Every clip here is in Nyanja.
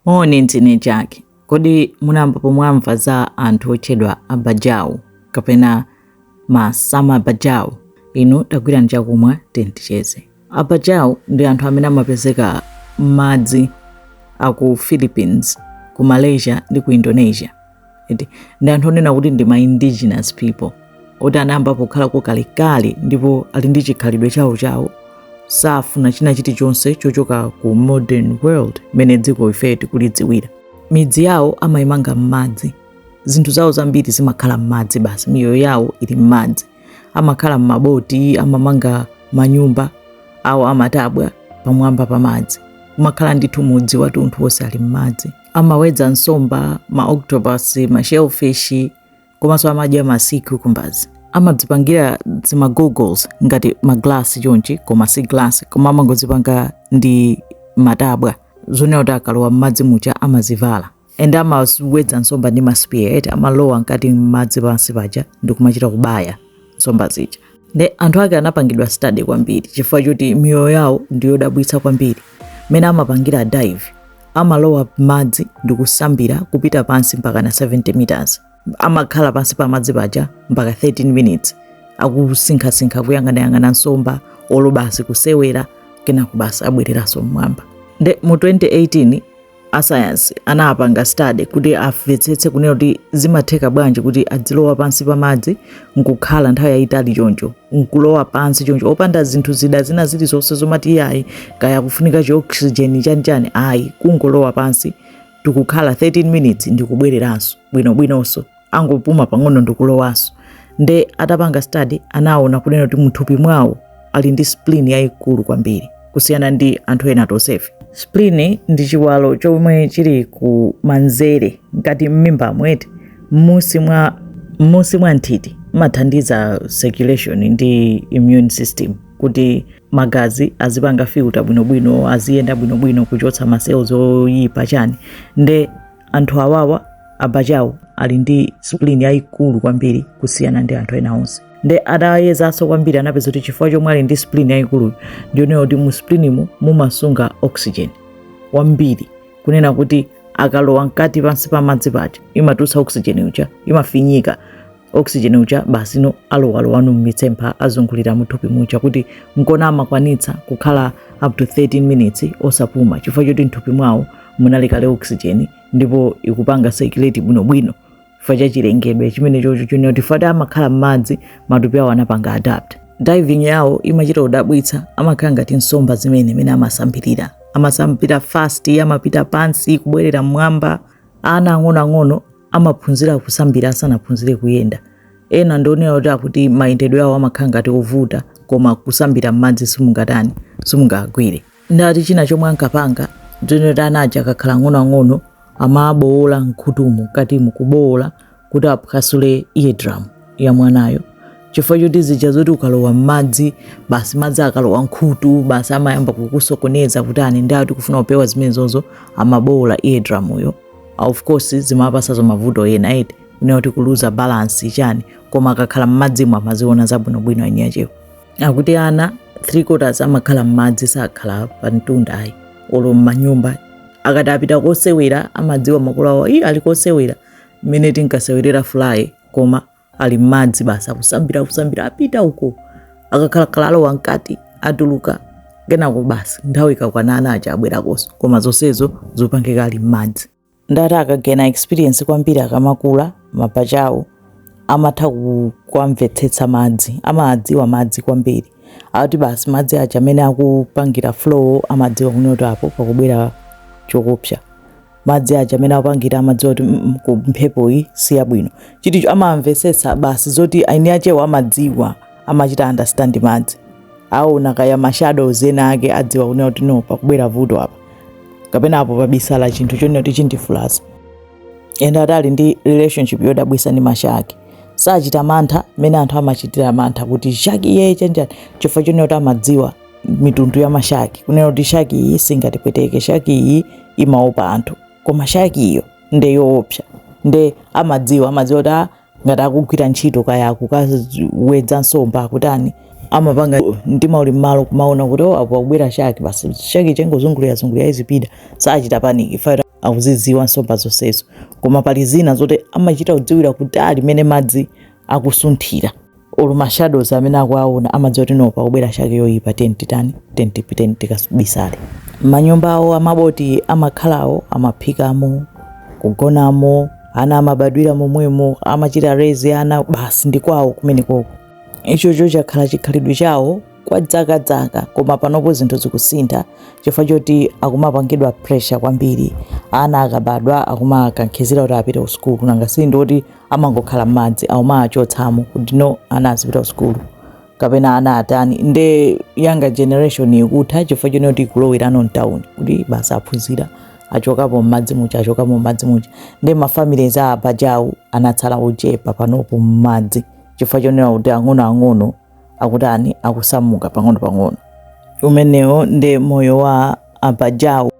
Moni, ndine Jack. Kodi munayambapo mwamva za anthu otchedwa abajau kapena ma sama abajau? Inu tagwirani chakumwa tinticheze. Abajau ndi anthu amene amapezeka m'madzi aku Philippines, ku Malaysia ndi ku Indonesia. ndi anthu onena kuti ndi ma indigenous people oti anayamba pokhala kalekale ndipo ali ndi chikhalidwe chawo chawo safuna china chilichonse chochoka ku modern world mmene dziko ife tikulidziwira midzi yawo amayimanga m'madzi zinthu zawo zambiri zimakhala m'madzi basi miyoyo yawo ili m'madzi amakhala m'maboti amamanga manyumba awo amatabwa pamwamba pa madzi kumakhala ndithu mudzi watunthu wonse ali m'madzi amawedza nsomba ma octopus ma shellfish komanso amadya ma sea cucumbers amadzipangira zima goggles ngati maglasi chonchi koma si glass koma amangozipanga ndi matabwa zonena kuti akalowa m'madzi muja amazivala ende amawedza nsomba ndi ma spear amalowa mkati m'madzi pansi paja ndikumachita kubaya nsomba zija nde anthu ake anapangidwa study kwambiri chifukwa choti miyoyo yawo ndiyodabwitsa kwambiri mmene amapangira dive amalowa m'madzi ndi kusambira kupita pansi mpakana 70 meters amakhala pansi pa madzi paja mpaka 13 minutes akusinkhasinkha kuyang'anayang'ana nsomba olo basi kusewera kenako basi abwereranso mmwamba nde mu 2018 asayansi anapanga study kuti amvetsetse kunena kuti zimatheka bwanji kuti adzilowa pansi pa madzi nkukhala nthawi yayitali choncho nkulowa pansi choncho opanda zinthu zida zina zilizonse zomati iyayi kaya kufunika chioxygen chanichani ayi kungolowa pansi ndikukhala 13 minutes ndikubwereranso bwinobwinonso angopuma pang'ono ndikulowanso nde atapanga study anaona kunena kuti mthupi mwawo ali ndi spleen yayikulu kwambiri kusiyana ndi anthu ena tonsefe spleen ndi chiwalo chomwe chili ku manzere ngati mmimbamu eti mmusi mwa mmusi mwa nthiti imathandiza circulation ndi immune system kuti magazi azipanga filter bwinobwino aziyenda bwinobwino kuchotsa ma cells oyipa chani nde anthu awawa abajau ali ndi spleen yayikulu kwambiri kusiyana ndi anthu ena onse nde atayezanso kwambiri anapeza kuti chifukwa chomwe ali ndi spleen yayikulu ndiyonena kuti mu spleenmu mumasunga oxygen wambiri kunena kuti akalowa mkati pansi pa madzi paja imatulutsa oxygen uja imafinyika oxygen uja basi no alowalowanu mmitsempha azungulira muthupi muja kuti nkona amakwanitsa kukhala up to 13 minutes osapuma chifukwa choti mthupi mwawo munali kale oxygen ndipo ikupanga circulate bwinobwino chifukwa cha chilengedwe chimene chocho chonena kuti paja amakhala m'madzi matupi awo anapanga adapt diving yawo imachita kudabwitsa amakhala ngati nsomba zimene mmene amasambirira amasambira fast amapita pansi kubwerera mmwamba ana ang'onoang'ono amaphunzira kusambira asanaphunzire kuyenda ena ndionera kuti akuti mayendedwe awo amakhala ngati ovuta koma kusambira m'madzi simungatani simungagwire ndati china chomwe ankapanga ndionera kuti anaja akakhala ang'onoang'ono amabowola mkhutumu mkatimu kubowola kuti aphwasule eardrum ya mwanayo chifukwa choti zija zoti ukalowa m'madzi basi madzi akalowa mkhutu basi amayamba kukusokoneza kutani nde ati kufuna kupewa zimenezozo amabowola eardrum yo of course zimawapatsanso mavuto ena eti kunena kuti kuluza balance chani koma akakhala mmadzimo amaziona zabwinobwino eni achewo akuti ana three quarters amakhala mmadzi sakhala pa mtunda ayi olo mmanyumba akati apita kosewera amadziwa makolo awo ii ali kosewera mmene tinkasewerera fly koma ali m'madzi basi akusambira akusambira apita uko akakhalakhala alowa mkati atuluka kenako basi nthawi ikakwana ana aja abwerakonso koma zonsezo zopangika ali m'madzi ndati akagena experience kwambiri akamakula mabajau wo amatha ku- kuwamvetsetsa madzi amadziwa madzi kwambiri akuti basi madzi aja mmene akupangira flow amadziwa kunoti apo pakubwera choopsa madzi aja mmene akupangira amadziwa kuti mm, mm, ku mphepo iyi si yabwino chiticho amamvetsetsa basi zoti eni achewo amadziwa amachita understand madzi aona kaya mashado zena ake adziwa kunena kuti no pakubwera vuto apa kapena apo pabisala chinthu chonena kuti chindivulaza ende ati ali ndi relationship yodabwisa ndi mashaki sachita mantha mmene anthu amachitira mantha kuti shaki iye chani chani chifukwa chonena kuti amadziwa mitundu ya mashaki kunena kuti shaki iyi singatipweteke shaki iyi imaopa anthu koma shaki iyo nde yoopsa nde amadziwa amadziwa kuti ah, ngati akugwira ntchito kaya akukawedza nsomba akutani amapanga mtima uli mmalo kumaona kuti oh, apo akubwera shaki basi shaki ija ingozungulira zungulira izipita sachita paniki paja akuzidziwa nsomba zonsezo koma pali zina zoti amachita kudziwira kutali mene madzi akusunthira olo ma shadows amene akuwaona amadziwa kuti no pakubwera shaki yoyipa tiyeni titani tiyeni tipi- tiyeni tikabisale manyumba awo amaboti amakhalawo amaphikamo kugonamo ana amabadwira momwemo amachita rezi ana basi ndi kwawo kumenekoko ichocho chakhala chikhalidwe chawo kwa dzakadzaka koma panopo zinthu zikusintha chifukwa choti akumapangidwa pressure kwambiri ana akabadwa akumakankhizira kuti apite ku sukulu nanga si ndi oti amangokhala mmadzi akumawachotsamo kuti no ana azipita ku sukulu kapena ana atani nde younger generation ikutha chifukwa chonena kuti ikulowerano mtawuni kuti basi aphunzira achokapo mmadzi muja achokapo mmadzi muja nde mafamilies a abajau anatsala ochepa panopo mmadzi chifukwa chonena kuti ang'onoang'ono akutani akusamuka pang'ono pang'ono umenewo nde moyo wa abajau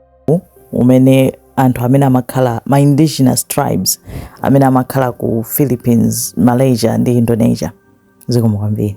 umene anthu amene amakhala ma indigenous tribes amene amakhala ku Philippines, Malaysia ndi Indonesia. Zikomo kwambiri.